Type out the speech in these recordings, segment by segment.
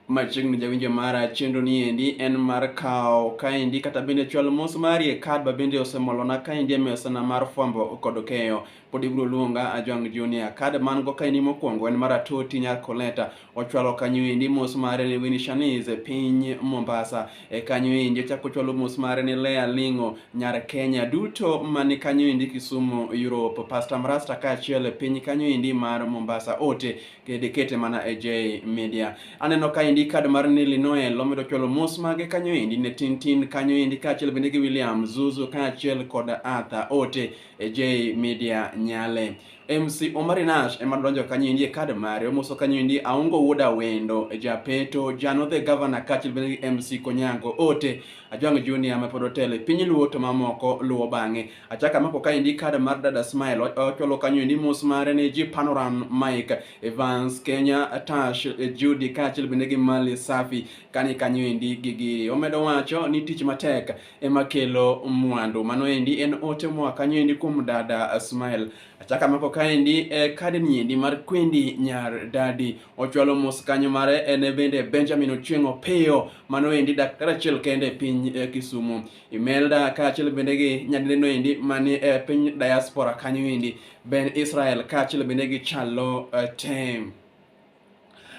machiegni jawinjo mara chenro ni endi en mar kawo kaendi kata bende chwal mos mari e kad ba bende osemolona kaendi e mesana mar fwambo kod keyo pod ibiro luonga Ajwang' Junior. Kad man go kaendi mokwongo en mar Atoti Nyar Koleta. Ochwalo kanyo endi mos mare ni Winnie Shaniz e piny Mombasa. E kanyo endi ochako ochwalo mos mare ni Lea Ling'o Nyar Kenya duto mani kanyo endi Kisumu Europe. Pastor Mrasta kaachiel e piny kanyo endi mar Mombasa. Ote dikete mana e J Media. Aneno ka endi kad mar Nili Noel omedo chwalo mos mage kanyo endi ne Tintin kanyo endi kaachiel bende gi William Zuzu kaachiel kod Arthur Ote e J Media Nyale. MC Omari Nash ema donjo kanyo endi e kad mare omoso kanyo endi Aongo Wuoda Wendo e Japeto Jano the Governor kaachiel bende gi MC Konyango Ote Ajwang' Junior ma pod otele piny luo to mamoko luwo bang'e. Achaka amako kaendi kada mar dada Smile ocholo kanyo endi mos mare ne ji Panoram Mike Evans Kenya Tash Judy kaachiel bende gi Mali Safi kani kanyo endi gigi omedo wacho ni tich matek ema kelo mwandu mano endi en ote moa kanyo endi kuom dada Smile achaka amako kaendi e kadi niendi mar kwendi nyar dadi ochwalo mos kanyo mare en bende Benjamin Ochieng' Opiyo mano endi daktari achiel kende e piny e Kisumu Imelda kaachiel bende gi nyadineno endi mani e piny diaspora kanyo endi Ben Israel kaachiel bende gi Chalo uh, Tem.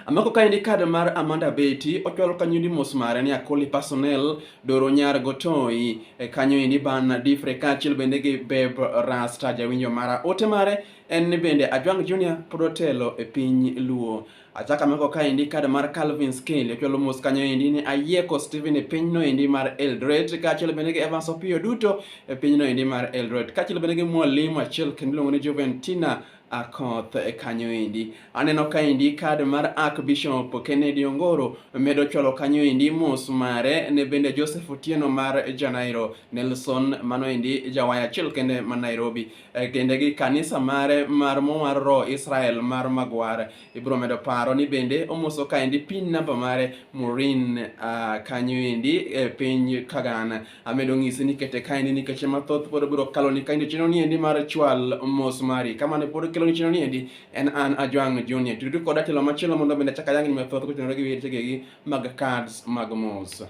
Amako kaendi kad mar Amanda Beti ochwalo kanyo ni mos mare ni Akoli Personnel Doro Nyar Gotoi e kanyo endi ban Difre kaachiel bende gi Beb Rasta jawinjo mara ote mare en ni bende Ajwang Junior pod otelo e piny Luo. Achak ameko kaendi kad mar Calvin Skin lichwalo mos kanyo endi ni ayieko Steven e pinyno endi mar Eldoret kaachiel bende gi Evans Opiyo duto e pinyno endi mar Eldoret kaachiel bende gi mwalimu achiel kendo iluongo ni Juventina Akoth e kanyo endi. Aneno kaendi kad mar Archbishop Kennedy Ongoro medo chwalo kanyo endi mos mare ne bende Joseph Otieno mar Janairo Nelson mano endi jawaya achiel kende ma Nairobi. e kindegi kanisa mare mar mowar roho Israel mar magwar ibiro medo paro ni bende omoso kaendi pin namba mare Morin uh, kanyo endi e piny Kagan amedo ng'isi ni kete kaendi nikech mathoth pod biro kalo ni kaendi chino ni endi mar chwal mos mari kama ne pod kelo ni chino ni endi en an Ajwang Junior tudu koda telo machielo mondo bende chaka yang ni mathoth kotenore gi weche gi mag cards mag mos